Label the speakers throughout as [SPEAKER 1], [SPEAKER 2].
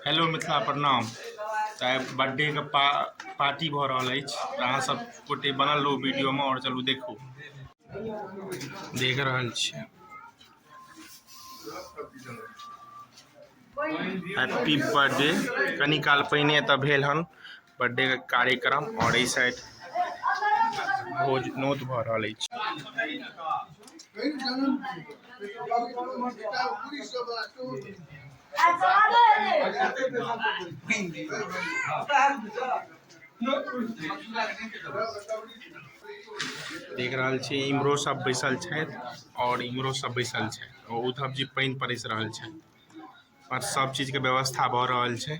[SPEAKER 1] hello Mithila प्रणाम तऽ आइ बर्थडेके पा पार्टी भऽ रहल अछि तऽ अहाँ सब गोटे बनल रहू वीडियोमे आओर चलू देखू देख रहल छियै हैप्पी बर्थडे कनी काल पहिने एतऽ भेल हन बर्थडेके कार्यक्रम आओर एहि साइड भोज नोत भऽ रहल अछि देख रहल छी इम्हरो सब बैसल छथि आओर इम्हरो सब बैसल छथि उद्धव जी पानि परसि रहल छथि आओर सब चीजके व्यवस्था भऽ रहल छै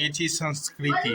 [SPEAKER 1] ये चीज संस्कृति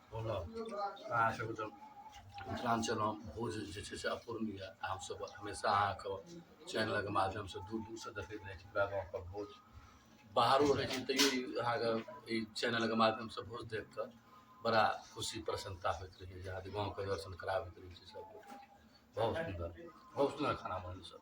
[SPEAKER 1] बोलऽ अहाँ सबके तऽ मिथिलाञ्चलमे भोज जे छै से अपूर्णीय यऽ अहाँ सब हमेशा अहाँके चैनलके माध्यमसँ दूर दूरसँ देखैत रहै छी हमरा गाँवके भोज बाहरो रहै छी तैयो ई अहाँके ई चैनलके माध्यमसँ भोज देख कऽ बड़ा खुशी प्रसन्नता होइत रहैए जे अहाँके गाँवके दर्शन कराबैत रहै छी सबके बहुत सुन्दर बहुत सुन्दर खाना बनल सब